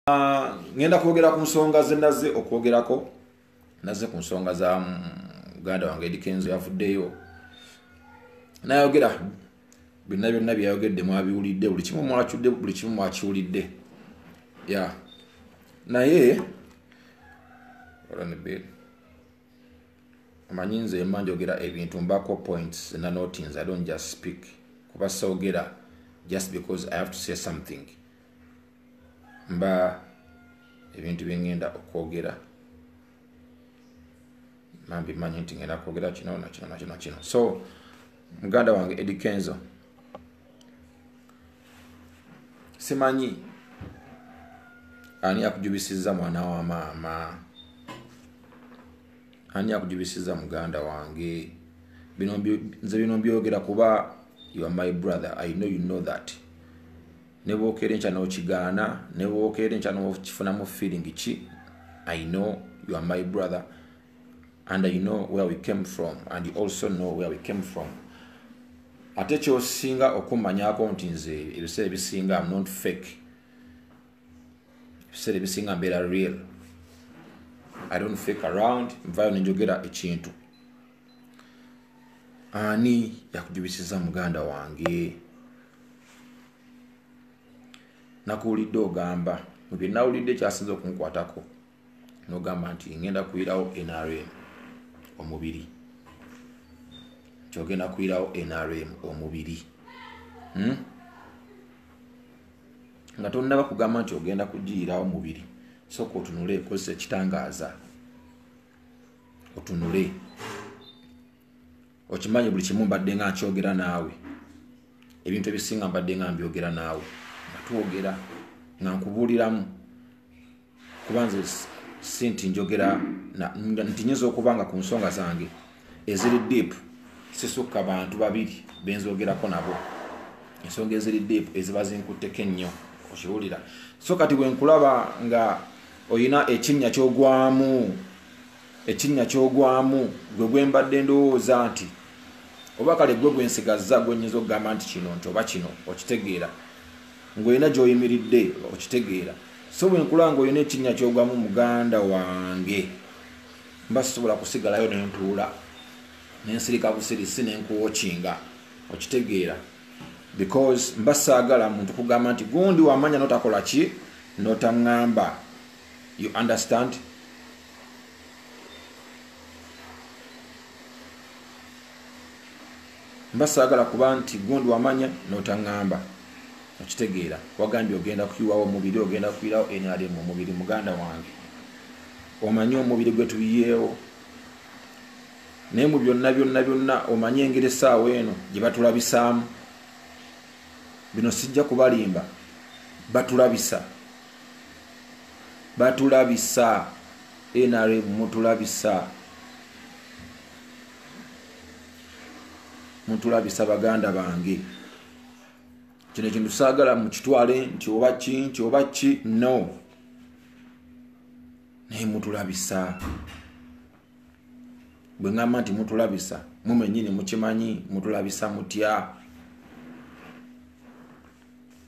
Ah, ngenda kwogera ku nsonga ze naze okwogerako naze ku nsonga za muganda mm, wange edikenzo yavuddeyo nayogera byonna byonna byeyayogedde mwabiwulidde buli kimu mwacudde buli kimu mwakiwulidde ya naye omanyi nze ema njogera ebintu mbako points nanotinz i don't just speak kuba sogera just because i have to say something mba ebintu byengenda okwogera mambi manyi nti ngenda kwogera kino nakino nakino kino so muganda wange edi kenzo simanyi ani akujubisiza mwana wa maama ani akujubisiza muganda wange nze bino mbyogera kuba you are my brother i know you know that ne bwokeera enkya n'okigaana ne bwokeera enkya n'okifunamu feeling ki i know you are my brother and i know where we came from and you also know where we came from ate kyosinga okumanyako nti nze ebiseera ebisinga am not fake ebiseera ebisinga mbeera real i don't fake around nvayo nenjogera ekintu ani yakujubisiza muganda wange nakuwulidde ogamba mubye nawulidde kyasinza okunkwatako nogamba nti ngenda kuyirawo nrm omubiri kyogenda kuyirawo nrm omubiri hmm? nga tonaba kugamba nti ogenda kugiyirawo mubiri soka otunule ekozesa ekitangaaza otunule okimanyi buli kimu mbadde nga nkyogera naawe ebintu ebisinga mbadde nga mbyogera naawe nga twogera nga nkubuuliramu kuba nze si nti njogera nti nyinza okuba nga ku nsonga zange eziri deep sisukka bantu babiri benzogerako nabo ensonga eziri deep eziba zinkutteko ennyo okiwulira so kati bwenkulaba nga oyina ekinnya kyogwamu ekinnya kyogwamu gwe gwembadde ndowooza nti oba kale gwe gwensigazza gwenyinza okugamba nti kino nti oba kino okitegeera ngaolina gyoyimiridde okitegeera so bwenkula nga olina ekinnya kyogwamu muganda wange mba sisobola kusigalayo nentuula nensirika busirisi nenkuwokinga okitegeera because mba saagala muntu kugamba nti gundi wamanya notakola ki notaŋŋamba you understand mba saagala kuba nti gundi wamanya notaŋŋamba okitegeera wagambye ogenda kuyiwawo omubiri ogenda kuyirawo nrm omubiri muganda wange omanyi omubiri gwe tuyiyeewo naye mu byonna byonna byonna omanye engeri essaawa eno gye batulabisaamu bino sijja kubalimba batulabisa batulabisa nrm mutulabisa mutulabisa baganda bange kino ekintu saagala mukitwale nti oba ki nti oba ki no naye mutulabisa bwe ŋŋamba nti mutulabisa mumenyini mukimanyi mutulabisa mutya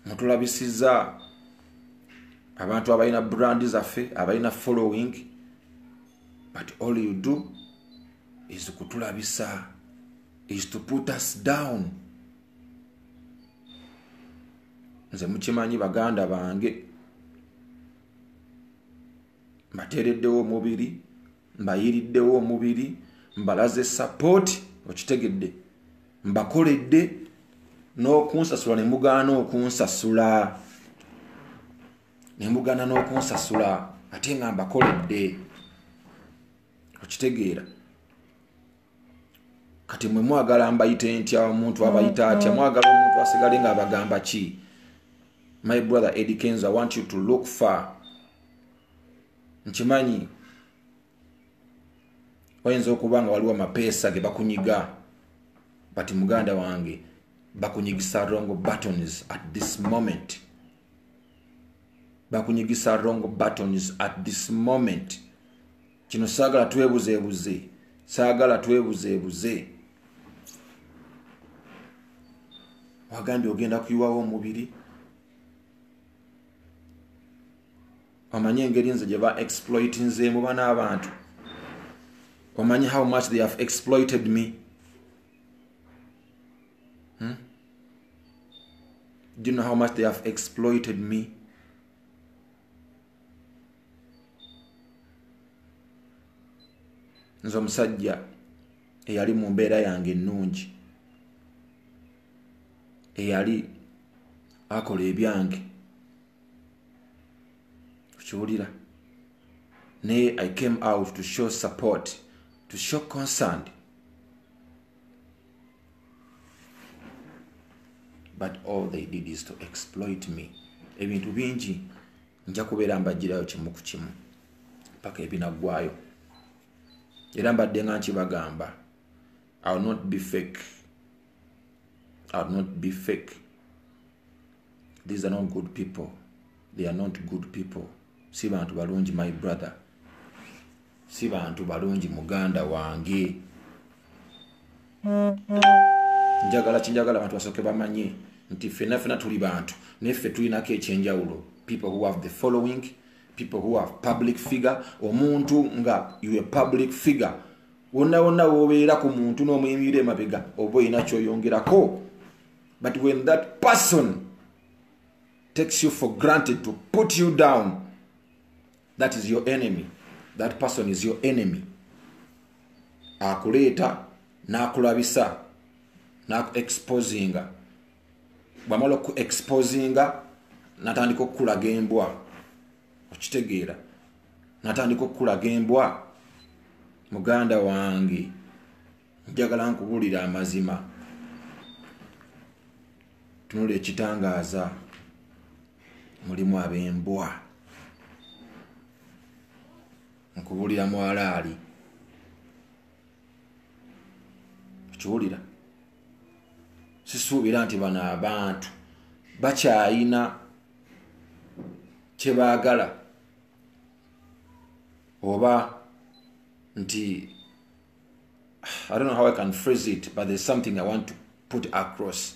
mutulabisiza abantu abalina brandi zaffe abalina following but all you do is kutulabisa is to put us down nze mukimanyi baganda bange mbateereddewo omubiri mbayiriddewo omubiri mbalaze sapooti okitegedde mbakoledde n'okunsasula ne mugaana okunsasula ne mugaana n'okunsasula ate nga mbakoledde okitegeera kati mwe mwagala mbayite ntya omuntu abayita mm, atya mm. mwagala omuntu asigale nga abagamba ki my brother eddie kenzo i want you to look far nkimanyi oyinza okuba nga waliwo amapeesa ge bakunyiga but muganda wange bakunyigisa wrong buttons at this moment bakunyigisa wrong buttons at this moment kino saagala twebuzeebuze saagala twebuzeebuze wagambye ogenda kuyiwawo omubiri omanyi engeri nze gye ba exploitinzeemu bana abantu omanyi how much they have exploited me hmm? do you know how much they have exploited me nze omusajja eyali mu mbeera yange ennungi eyali akola ebyange okiwulira naye i came out to show support to show concerned but all they did is to exploit me ebintu bingi nja kubeera mbajjirayo kimu ku kimu paka ebinaggwayo era mbadde nga nkibagamba ill not be fake ill not be fake these are not good people they are not good people si bantu balungi my brother si bantu balungi muganda wange njagala kinjagala abantu basoke bamanye nti fena fena tuli bantu naye ffe tulinako ekyenjawulo people who have the following people who have public figure omuntu nga you a public figure wonna wonna wobeera ku muntu n'omuyimira emabega oba olina kyoyongerako but when that person takes you for granted to put you down that is your enemy that person is your enemy akuleeta n'akulabisa n'akuexposinga bwamala okuexposinga natandika okukulaga embwa okitegeera natandika okukulaga embwa muganda wange njagala nkubuulira amazima tunula ekitangaaza mulimu ab'embwa nkubuulira mwalaali okiwulira sisuubira nti bano abantu bakyayina kyebaagala oba nti i don't know how i can phrase it but there's something i want to put across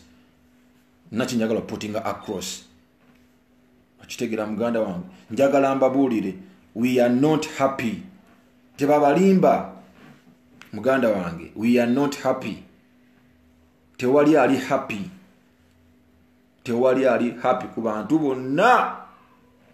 naki njagala putting across okitegera muganda wange njagala mbabuulire we are not happy tebabalimba muganda wange we are not happy tewali ali happy tewali ali happy ku bantu bonna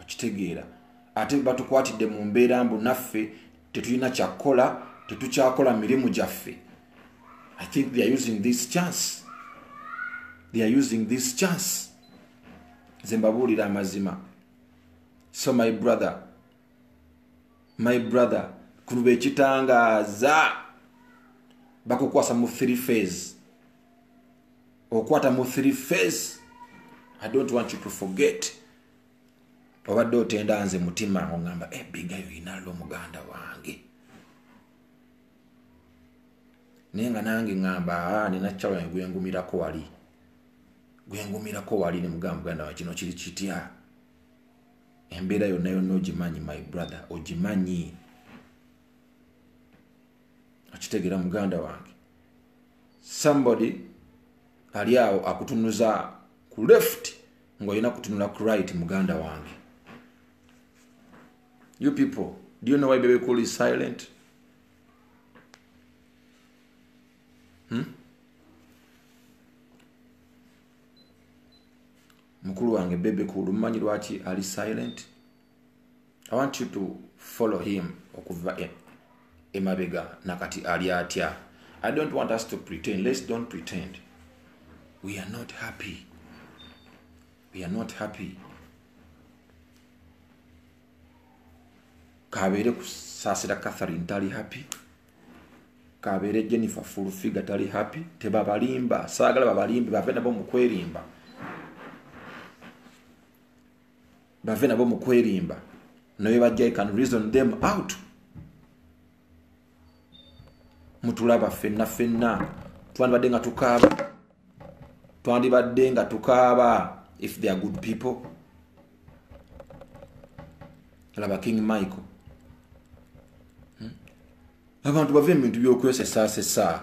okitegeera ate batukwatidde mu mbeera mbu naffe tetulina kyakukola tetukyakola mirimu gyaffe i think theyare using this chance theyare using this chance nze mbabuulira amazima so my brother my brother kuluba ekitangaaza bakukwasa mu three phase okwata mu three face i don't want you to forget obadde otenda nze mutima ogamba ebiga eh, yoinalo muganda wange naye nga nange ngamba ah, nina kyalo yange gwengumirako wali gwengumirako wali nemugamba muganda wa kino kiri kitya embeera yonna yonna ogimanyi my brother ogimanyi okitegera muganda wange somebody ali awo akutunuza ku left ngaolina kutunula ku right muganda wange you people do you know why baby cool is silent hmm? mukulu wange bebe cool mumanyi lwaki ali silent i want you to follow him okuva e, emabega nakati ali atya i don't want us to pretend let's don't pretend we are not happy we are not happy kabeere kusaasira catherine tali happy kabeere jennifer full figure tali happy tebabalimba saagala babalimbe bave nabo mu kwerimba bave nabo mu kwerimba naye bajja i can reason them out mutulaba fenna fenna twandibadde nga tukaaba twandibadde nga tukaaba if they are good people laba king michael hmm? abantu bava mu bintu byokwesesaasesa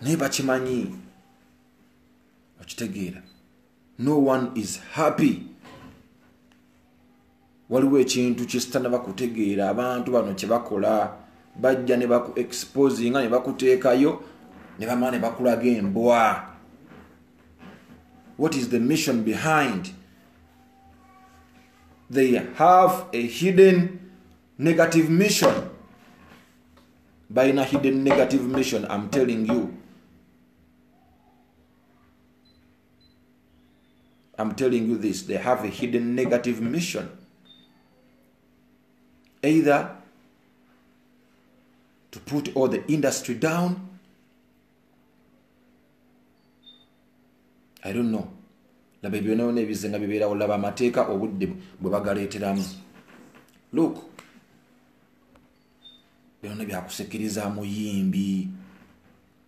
naye bakimanyi okitegeera no one is happy waliwo ekintu kyesitanaba kutegeera abantu bano kyebakola bajja ne baku exposinga ne bakuteekayo ne bamala ne bakulaga embwa what is the mission behind they have a hidden negative mission balina hidden negative mission im telling you I'm telling you this, they have a hidden negative mission. Either to put all the industry down. I don't know. laba ebyonaona ebize nga bibeerawo laba amateeka obudde bwe bagaleeteramu look byona byakusikiriza muyimbi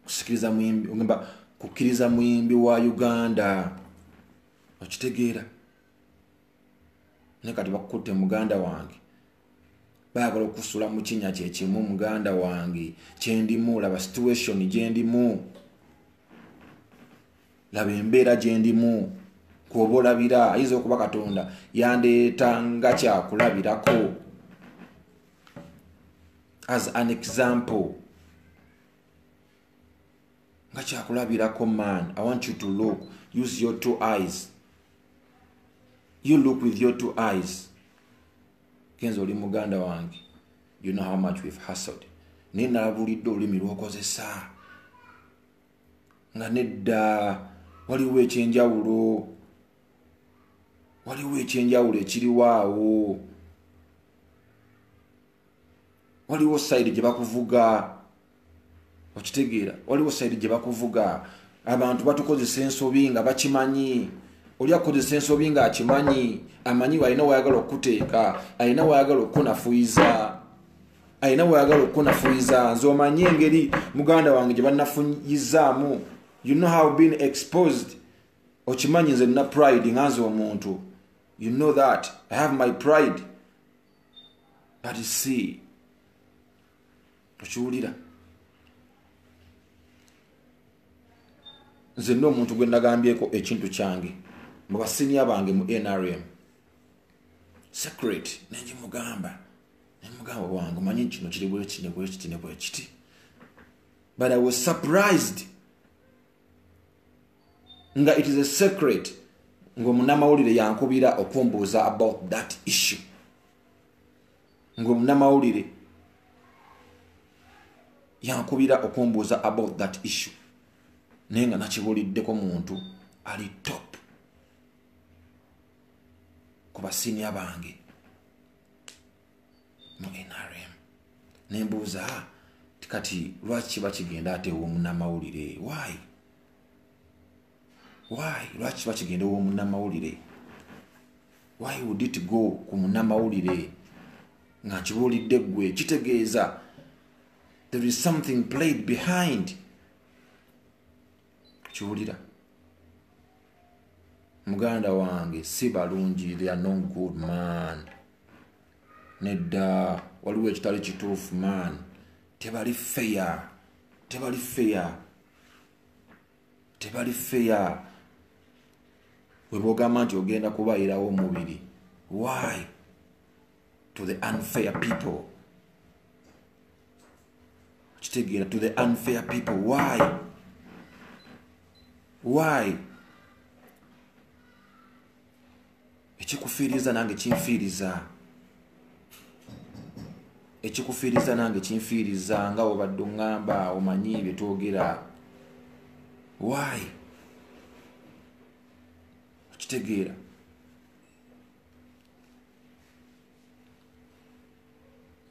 kusikiriza muyimbi ogamba kukkiriza muyimbi wa uganda okitegeera naye kati bakukutte muganda wange baagala okusula mu kinya kyekimu muganda wange kyendimu laba situation gyendimu laba embeera gyendimu kuoba olabira ayinza okuba katonda yandeeta nga kyakulabirako as an example nga kyakulabirako man i want you to look use your two eyes you look with your two eyes kenza oli muganda wange you know how much we've hustled naye nalabulidde olulimi lwokozesa nga nedda waliwo ekyenjawulo waliwo ekyenjawulo ekiriwaawo waliwo sayidi gye bakuvuga okitegeera waliwo sayidi gye bakuvuga abantu batukozesa ensobi nga bakimanyi oli akukozesa ensobi nga akimanyi amanyi alina wayagala okukuteeka alina wayagala okukunafuyiza alina wayagala okukunafuyiza nze omanyi engeri muganda wange gye banafuyizaamu you know how been exposed okimanyi nze nina pride nga nze omuntu you know that i have my pride but see tokiwulira nze nna omuntu gwe nagambyeko ekintu kyange mu basinia bange mu nrm secret nenjimugamba nemugamba wange omanyi kino kiri bwekiti nebwekiti nebwekiti but i was surprised nga it is a secret ngaomunamawulire yankubira okumbuuza about that issue ngaomunamawulire yankubira okumbuuza about that issue naye nga nakibuliddeko muntu ali top ku basinia bange mu nrm nembuuza ah, kati lwaki kiba kigenda ate womunamawulire waayi why lwaki bakigenda owomunamawulire why would it go ku munamawulire nga nkibuulidde ggwe kitegeeza there is something played behind kiwulira muganda wange si balungi they are no good man nedda waliwo ekitali kituufu man tebali feya tebali feya tebali feya webogamba nti ogenda kubayirawo omubiri why to the unfair people kitegeera to the unfair people why why ekikufiiriza nange kinfiiriza ekikufiiriza nange kinfiiriza nga obadde oŋŋamba omanyi bye twogera waayi okitegeera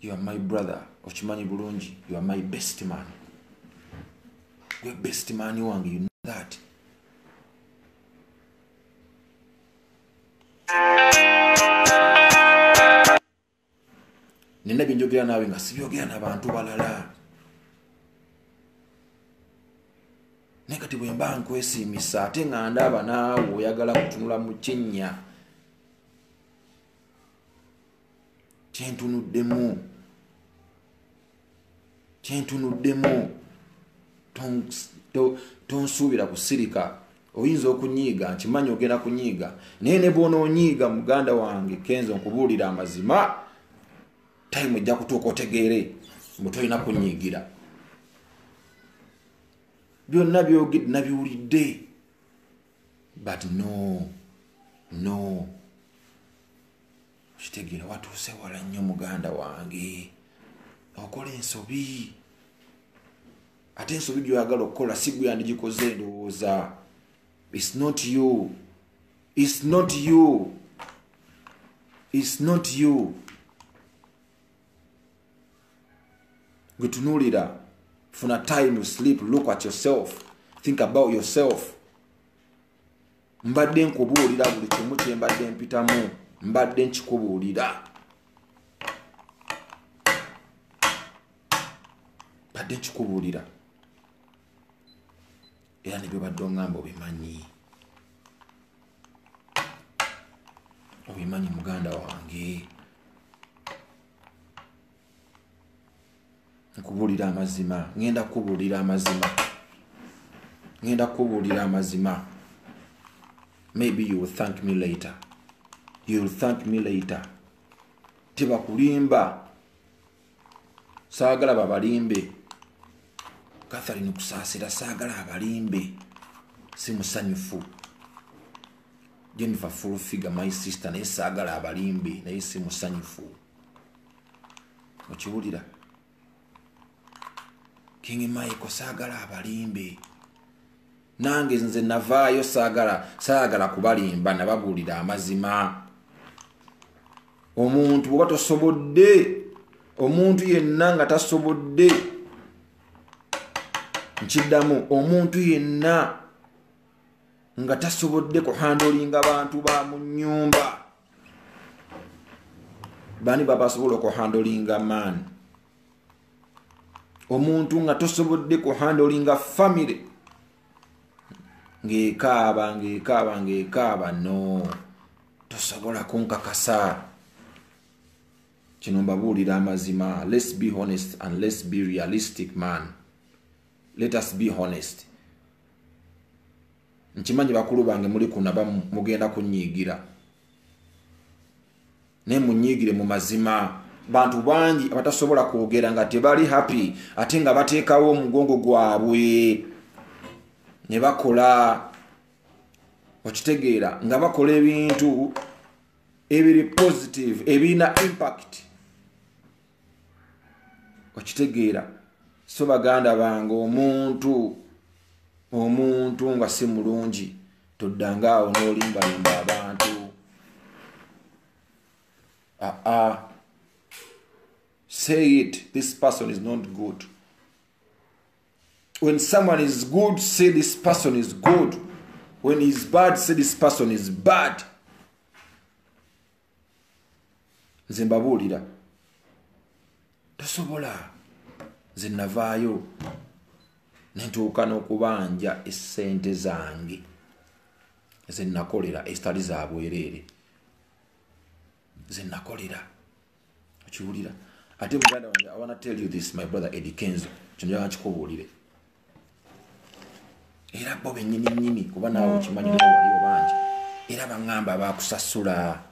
you are my brother okimanyi bulungi you are my best man gwe best man wange you know that nina byenjogera naawe nga sibyogera nabantu balala naye kati bwemba nkwesiimisa ate nga ndaaba naawe oyagala kutunula mu kinnya kyentunuddemu kyentunuddemu tonsuubira kusirika oyinza okunyiiga nkimanyi ogenda kunyiiga naye ne bwonoonyiiga muganda wange kenzo nkubuulira amazima tayimu ojja kutuuka otegeere mbu tolina kunyiigira byonna byogedde nabiwulidde but no no okitegera watuuse wala nnyo muganda wange okola ensobi ate ensobi gyoyagala okukola si gwe yandigikoze endowooza its not you its not you its not you gwetunuulira funa time sleep look at yourself think about yourself mbadde nkubuulira buli kimu kye mbadde mpitamu mbadde nkikubuulira mbadde nkikubuulira era ne byobadde oŋŋamba obimanyi obimanyi muganda wange nkubuulira amazima ŋenda kukubuulira amazima ŋenda kukubuulira amazima maybe you will thank me later you will thank me later tebakulimba saagala babalimbe katharine kusaasira saagala abalimbe si musanyufu jennifer full figure my sister naye saagala abalimbe naye si musanyufu okiwulira king michael saagala abalimbe nange nze navaayo saagala saagala kubalimba nababuulira amazima omuntu bwoba tosobodde omuntu yenna nga tasobodde nkiddamu omuntu yenna nga tasobodde kuhandolinga bantu ba mu nyumba bani babasobola okuhandolinga man omuntu nga tosobodde kuhandolinga family ng'ekaaba ng'ekaaba ng'ekaaba no tosobola kunkakasa kino mbabuulira amazima let's be honest and let's be realistic man let us be honest nkimanyi bakulu bange muli kunaba mugenda kunyiigira naye munyiigire mu mazima bantu bangi abatasobola kwogera nga tebali happy ate nga bateekawo omugongo gwabwe ne bakola okitegeera nga bakola ebintu ebiri positive ebirina impact okitegeera so baganda bange omuntu omuntu nga si mulungi toddanga awo n'olimbalimba abantu aa ah, ah. say it this person is not good when someone is good say this person is good when he is bad say this person is bad nze mbabuulira tosobola nze navaayo nentuuka n'okubanja essente zange ze nakolera ezitali za bwereere ze nakolera okiwulira ate muganda wange i wanna tell you this my brother eddie kenzo kino njagala kikubuulire era bo benyini nyini kuba nawe mm, okimanyi mm. waliwo bangi era baŋamba bakusasula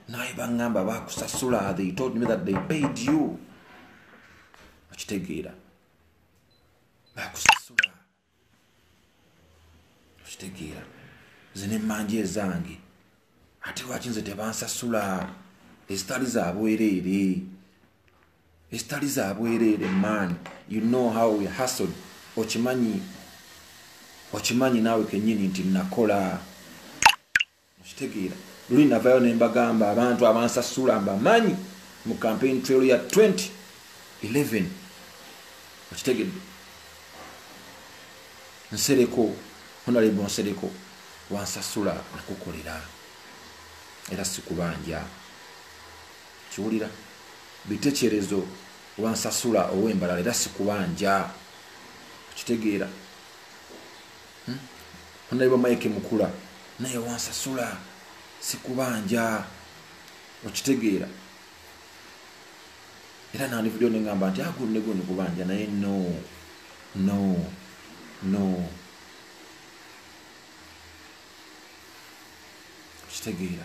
naye baŋamba bakusasula they told me that they paid you okitegeera bakusasula okitegeera zina emmanji ezange ate lwaki nze tebansasula ezitali zabwereere ezitali za bwereere man you know how we hustled okimanyi okimanyi naawe kenyini nti nakola okitegeera luli navayo ne mbagamba abantu abansasula mbamanyi mu campaign trail ya 2011 okitegedde nsereko honalebo nsereko wansasula nakukolera era sikubanja Kiwulira bitekyerezo kuba nsasula owe mbalala era sikubanja okitegeera hmm? onaiba mike mukula naye wansasula sikubanja okitegeera era nandivudeyo nengamba nti agunego ah, nikubanja naye no no no okitegeera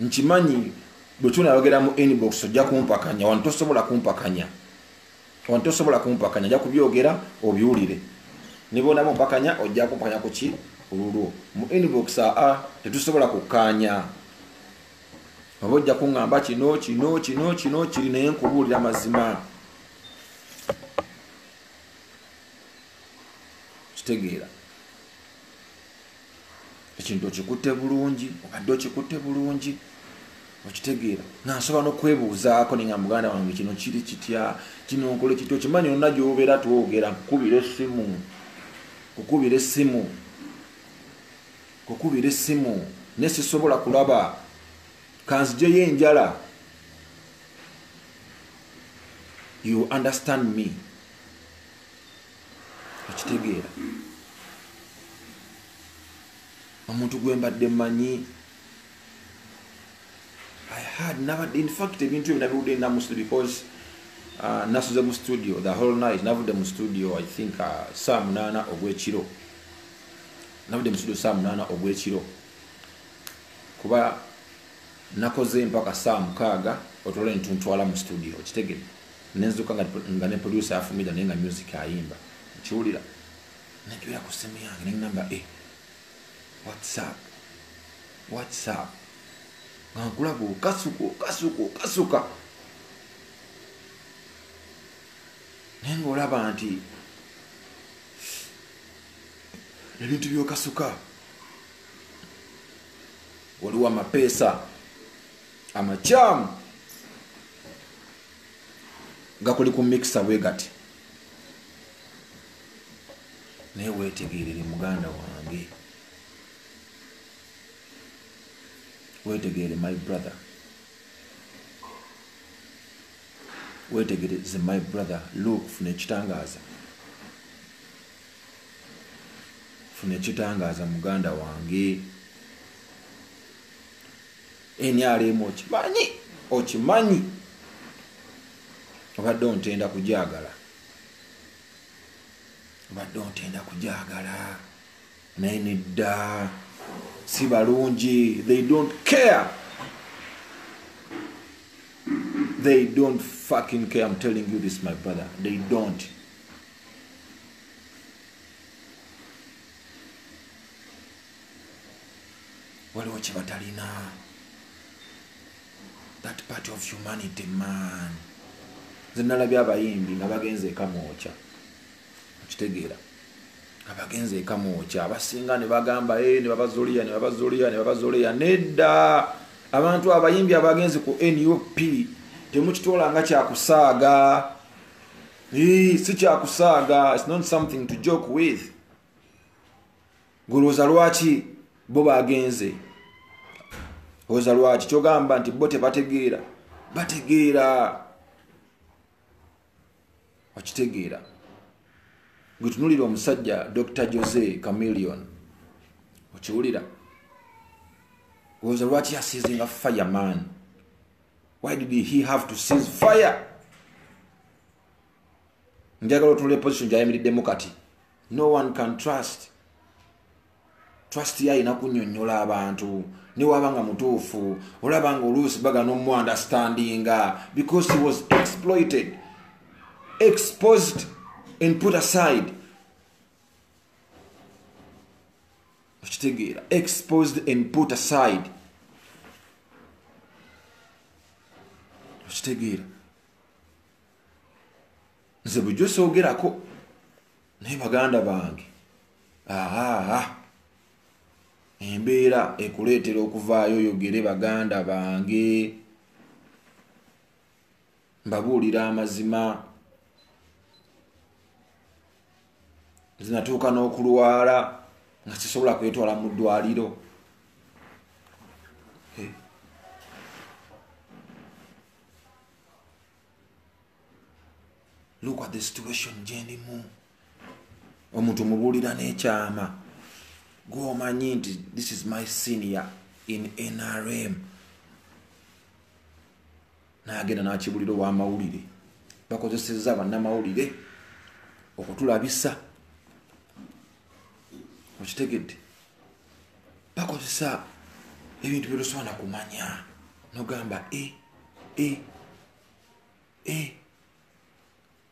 nkimanyi bwetunayogera mu inbox ojja kumpakanya wano tosobola kumpakanya wano tosobola kumpakanya ojja kubyogera obiwulire nibonaba ompakanya ojja kumpakanya kuki olulwo mu inbox aa tetusobola kukkaanya oba ojja kuŋŋamba kino kino kino kino kiri naye nkubuulira amazima kitegeera ekintu okikutte bulungi obadde okikutte bulungi okitegeera nga nsobola nokwebuuzaako naye nga muganda wange kino kiri kitya kino nkole kitya okimanyi olina gyobeera twogera kukubira essimu kukubira essimu kukubira essimu naye sisobola kulaba kanzijeyo enjala you understand me okitegeera omuntu gwe mbadde manyi i had nabadde infact ebintu ebyo nabiwudde nda mustu because uh, nasuze mu studio the whole night navudde mu studio i think uh, saa munaana ogwekiro navudde mu studio saa munaana ogwekiro kuba nakoze mpaka saa mukaaga otwala entuntwala mu studio okitegere nenzuka nga, nga ne producer afumira naye nga music ayimba nkiwulira najubira ku simu yange nenamba e eh, whatsapp whatsapp nga nkulaga okasuka okasuka okasuka naye nga olaba nti ebintu byokasuka waliwo amapeesa amakyamu gakuli ku mikisa bwe gati naye wetegerere muganda wange wetegerere my brother wetegereze my brother look funa ekitangaza funa ekitangaza muganda wange nrm okimanyi okimanyi obadde ontenda kujagala obadde ontenda kujagala naye nedda si balungi they don't care they don't fucking care i'm telling you this my brother they don't waliwo kyebatalina that part of humanity man zenalabye abayimbi nga bagenze ekamwokya okitegeera nga bagenze ekamwokya abasinga nebagamba e eh, nebabazuliya nebabazuliya nebabazuliya nedda abantu abayimbi abagenzi ku nup temukitoola nga kyakusaaga si kyakusaaga its not something to joke with golwoza lwaki bo bagenze oza lwaki kyogamba nti bo tebategeera bategeera okitegeera gwetunulira omusajja dr jose camilion okiwulira oza lwaki yasizinga fireman why did he have to seize fire njagala otunula eposition gyayimiriddemu kati no one can trust trust ye alina kunyonyola abantu newaba nga mutuufu olaba nga oluusi bagana omuandastandinga because he was exploited exposed and put aside okitegeera exposed and put aside okitegeera nze bujo soogerako naye baganda bange aa embeera ekuleetera okuvaayo oyogere baganda bange mbabuulira amazima zinatuuka n'okulwala nga sisobola kwetwala mu ddwaliro look at the situation gyendimu omuntu mubuulira n'ekyama gwomanyi nti this is my senior in nrm nagenda nakibulira owamawulire bakozeseza bannamawulire okutulabisa okitegedde bakozesa ebintu byetusobola kumanya nogamba e eh, e e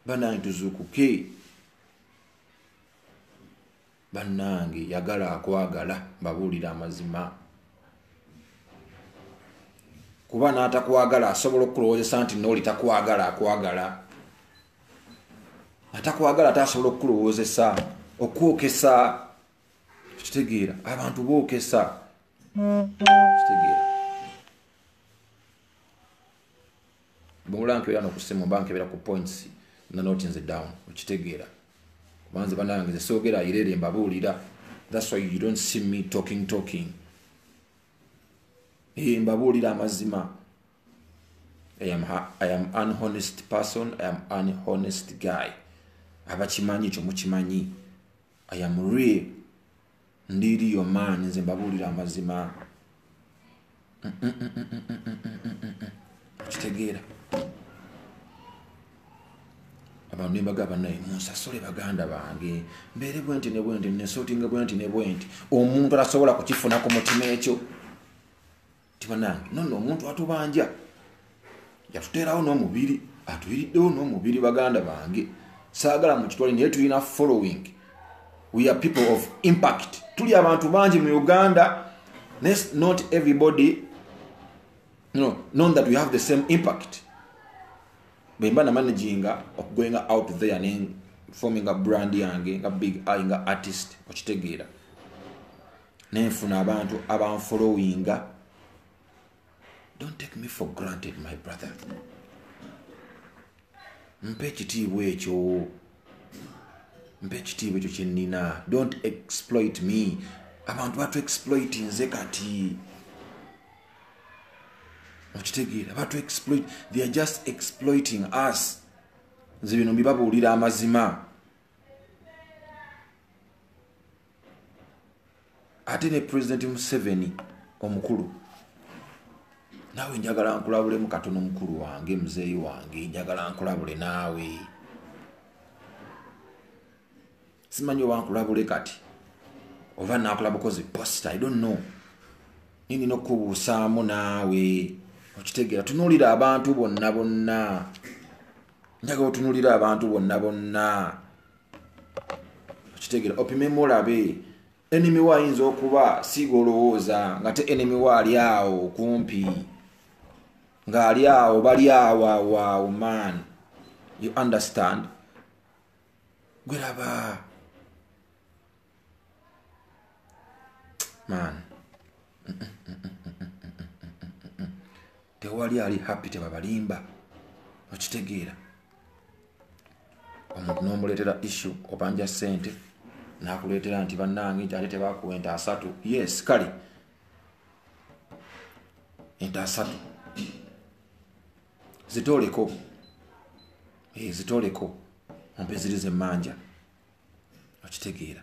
banange tuzukuke banange yagala akwagala mbabuulira amazima kuba n'atakwagala asobola okukulowozesa nti nooli takwagala akwagala atakwagala ate asobola okukulowozesa okwokesa kitegeera abantu bookesa kitegeera bwemula nkeera nokusimu mba nkebera ku points na not in the down okitegeera kubanze banange ze soogera irere mbabuulira thats why you don't see me talking talking e eh, mbabuulira amazima I am, i am an honest person i am an honest guy abakimanyi ekyo mukimanyi i am real ndiiri yo maani nze mbabuulira amazima okitegeera abantu nembaga banaye munsasule baganda bange mbeere bwenti ne bwenti nesotinga bwenti ne bwenti omuntu atasobola kukifuna ku mutima ekyo tibanange nonno omuntu atubanja yatuteerawo n'omubiri atuyiriddewo n'omubiri baganda bange saagala mu kitwale naye tulina following we are people of impact tuli abantu bangi mu uganda nes not everybody no, non that we have the same impact bwemba namanaginga okugoinga out there ne forminga brand yange nga big eye nga artist okitegeera nenfuna abantu abanfolowinga don't take me for granted my brother mpa ekitiibwa ekyo mpa ekitiibwa ekyo kyenina don't exploit me abantu batu exploit nze kati okitegeera batu exploit they are just exploiting us nze bino mbibabuulira amazima ate ne pulezidenti museveni omukulu naawe njagala nkulabulemu katono mukulu wange muzeeyi wange njagala nkulabule naawe simanyi oba nkulabule kati oba nakulaba kozi post i don't know ninina okukubuusaamu naawe okitegeera tunuulira abantu bonna bonna njaga otunuulira abantu bonna bonna okitegera opimemu olabe enemy wa ayinza okuba siiga olowooza nga te enemy wa ali awo kumpi ng'ali awo bali awo awaawo man you understand gweraba man tewali ali happy tebabalimba okitegeera omuntu nomuleetera issu obanja sente nakuleetera nti bannange ate tebakuwa ente asatu yes kale ente asatu zitooleko eh, zitooleko ompe ziri zemmanja okitegeera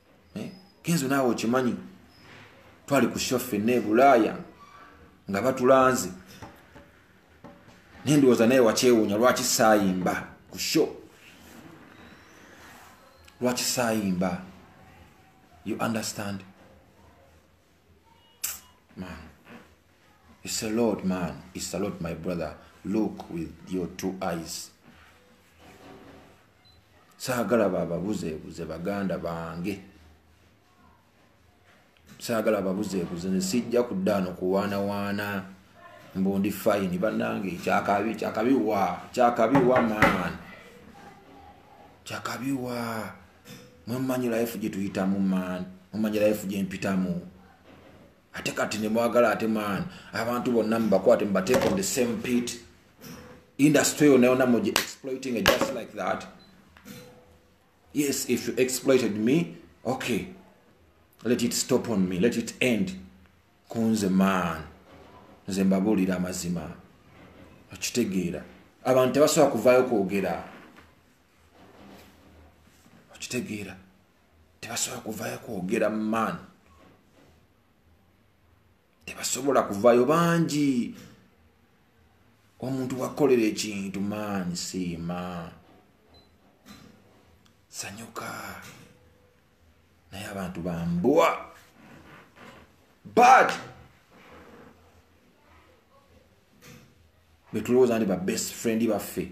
eh, kenzo naawe okimanyi twali ku sho fenna ebulaaya nga batulanze naye ndowooza naye wakyewuunya lwaki saayimba ku sho lwaki saayimba you understand man it's a lord man it's a lord my brother look with your two eyes saagala bababuzeebuze baganda bange saagala babuzeebuze ne sijja kuddaano kuwaanawaana mbu ndi fayini bannange kyakabi kyakabi wa kyakabi wa man kyakabi wa mwemumanyi life gye tuyitamu man mumanyi life gye mpitamu ate kati nemwagala ate man abantu bonna mubakwate mubateeka on the same pit industry yona yona mugi exploiting just like that yes if you exploited me okay let it stop on me let it end kunze man nze mbabuulira amazima okitegeera abantu tebasobola kuvaayo kwogera okitegeera tebasobola kuvayo kwogera man tebasobola kuvayo bangi omuntu wakolera ekintu man siima sanyuka naye abantu bambwa bad betulowooza ndi ba best friend baffe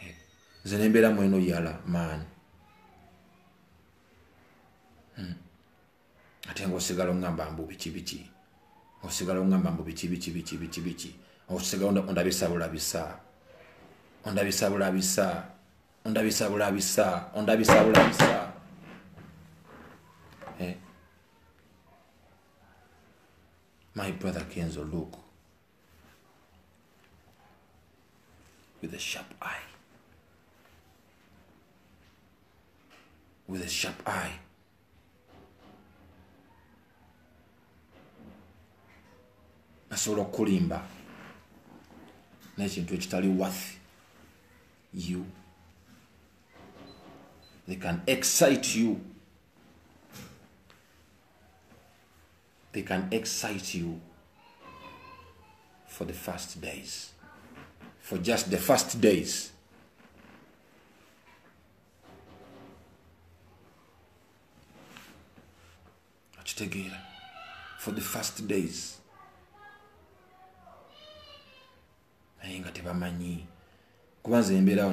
eh, nze nembeera mweno yala maani hmm. ate nga osigala ongamba mbu biki biki osigala ongamba mbu biki biki biki biki biki osigala ondabisa bulabisa ondabisa bulabisa ondabisa bulabisa ondabisa bulabisa eh. my brother kenzo look with a sharp eye. With a sharp eye. nasobola okukulimba n'ekintu ekitali worth you they can excite you they can excite you for the first days for just the first days akitegeera for the first days naye nga tebamanyi kuba nze embeerawo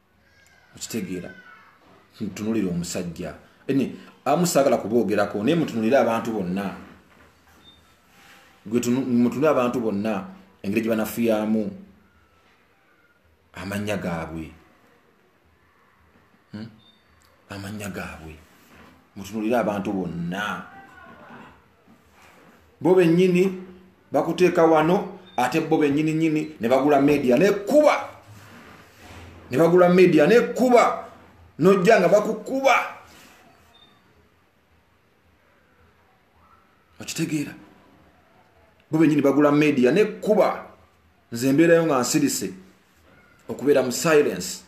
okitegeera ntunulira omusajja ene amu saagala kuboogerako naye mutunulire abantu bonna mutunulire abantu bonna engeri gye banafuyamu amannya gaabwe hmm? amannya gaabwe mutunulire abantu bonna bo bennyini bakuteeka wano ate bo bennyini nyini ne bagula media nekuba ne bagula media nekuba nojja nga bakukuba okitegeera bo bennyini bagula media nekuba nze mbeerayo nga nsirise okubeera mu silence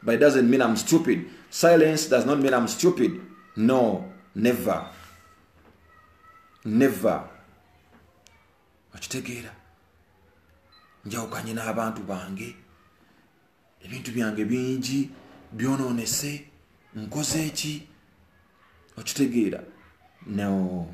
but it doesn't mean I'm stupid. Silence does not mean I'm stupid. No, never. Never. Okitegeera. Njawukanye n'abantu bange. Ebintu byange bingi byonoonese. Nkoze ki? Okitegeera. No.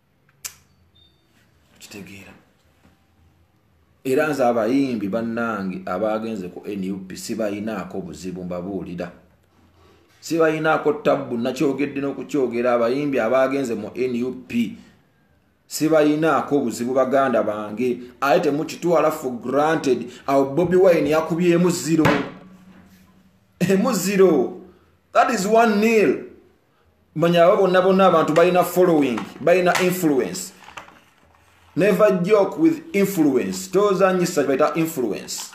kitegeera era nze abayimbi bannange abaagenze ku nup sibalinaako buzibu mbabuulira sibalinaako tabbu nakyogedde n'okukyogera abayimbi abaagenze mu nup sibalinaako buzibu baganda bange aye temukitwala for granted awo bobi wine yakubyemu ziro emu ziro that is one nil manya abo bonna bonna abantu balina following balina influence never joke with influence tozanyisa kibaita influence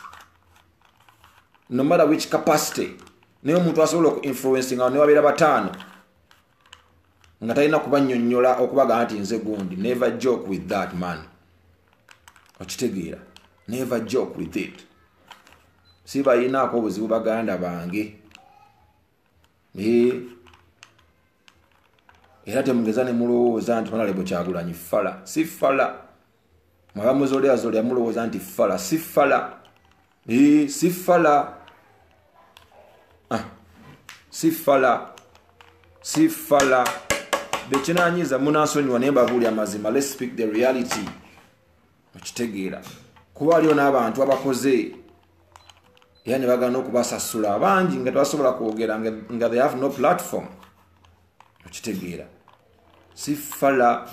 no matter which capacity naye omuntu asobola oku influencing awo newabeera bataano nga talina kubanyonyola okubagamba nti nze gundi never joke with that man okitegeera never joke with it si bayinaako obuzibu baganda bange eh. era temugeza ne mulowooza nti manalebo kyagulanyi fala si fala mwabamuzoleazolea mulowooza nti fala si fala eh, si fala ah. si fala si fala bekinanyiza munasonyiwa naye mbabuuli amazima let's speak the reality okitegeera kuba waliwo n'abantu abakoze era ne bagana okubasasula abangi nga tebasobola kwogera nga they have no platform okitegeera si fala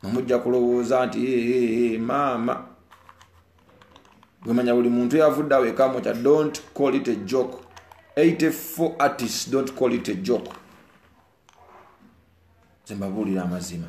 mumujja kulowooza nti maama gwemanya buli muntu yavudde awo ekamukya don't call it a joke 84 artists don't call it a joke zembabuulira amazima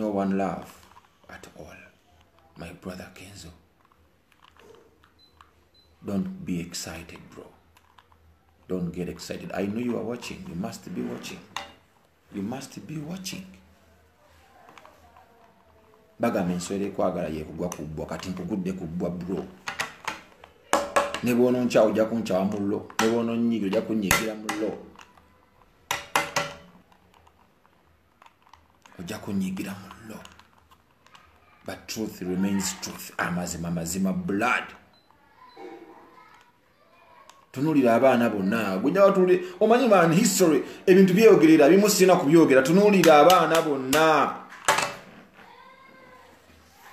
no one love at all my brother kenzo don't be excited bro don't get excited i know you are watching you must be watching you must be watching bagamba enswera ekwagala yekugwa kubbwa kati nkugudde kubbwa bro ne bwononkyawo ojja kunkyawa mu lo ne bwononyiga ojja kunyigira mu lo ojja kunyigira mu lo but truth remains truth amazima mazima blood tunulira abaana bonna gwenyawatuli omanyi man history ebintu byeyogerera bimu sirina kubyogera tunulira abaana bonna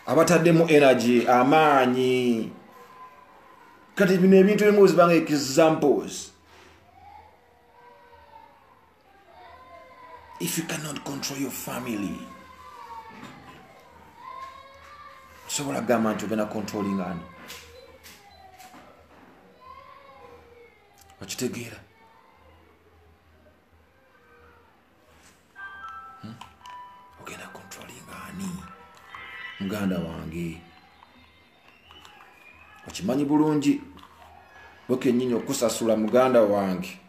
abataddemu energy amaanyi kati bino ebintu ebimu zibanga examples if you cannot control your family sobola kugamba nti ogenda controlling ani okitegeera hmm? ogenda controlling ani muganda wange okimanyi bulungi wekenyini okusasula muganda wange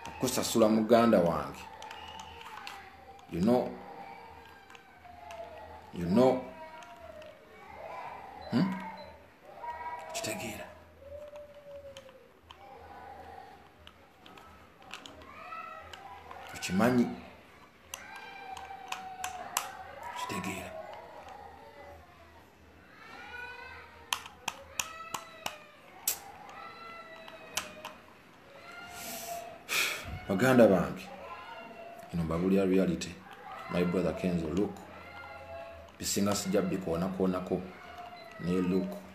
okusasula muganda wange you know you know hmm? kitegeera tukimanyi kitegeera baganda bange ino mbabulira reality my brother kenzo look bisinga sijja bikoonako naye look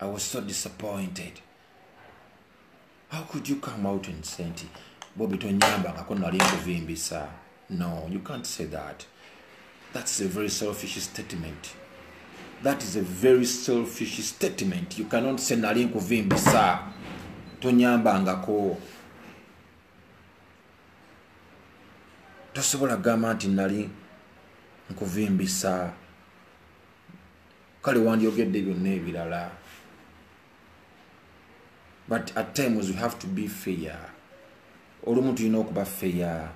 i was so disappointed how could you come out and say nti bobi tonyamba ngako nali nkuvimbisa no you can't say that that's a very selfish statement that is a very selfish statement you cannot say nali nkuvimbisa tonyamba ngako tosobola gamba nti nali nkuvimbisa kale wandyogedde byonna ebirala but at times we have to be fair olumu tulina okuba feya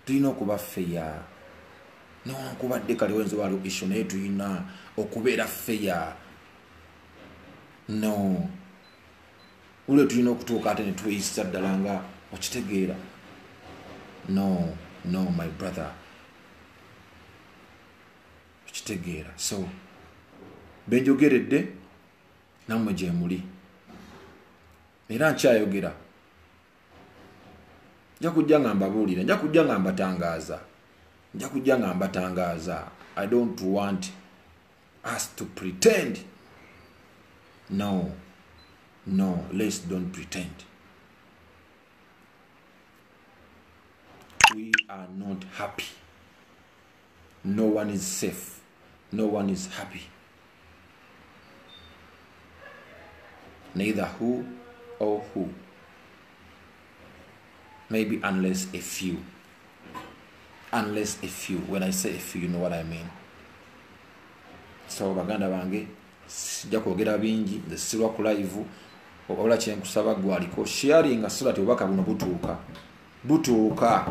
tulina okuba feya newankubadde kale wenza waliwo isho naye tulina okubeera feya no ulwe tulina okutuuka ate netweyisa ddala nga okitegeera no no my brother okitegeera so benjogeredde nammwe gyemuli era nkyayogera nja kujja nga mbabuulira nja kujja nga mbatangaaza nja kujja nga mbatangaaza i don't want us to pretend no no let's don't pretend we are not happy no one is safe no one is happy neither who or who maybe unless a few unless a few when i say a few you know what i mean so baganda bange sijja kwogera bingi nze sirwa ku live ola kyenkusaba gwaliko sharinga sirati obubaka buno butuuka butuuka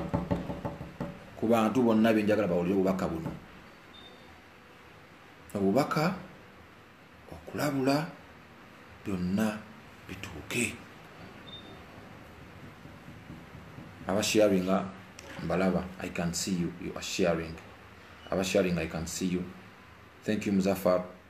ku bantu bonna benjagala bawulire obubaka buno obubaka okulabula byonna bituuke abasharinga mbalaba i can see you you are sharing abasharing i can see you thank you muzafar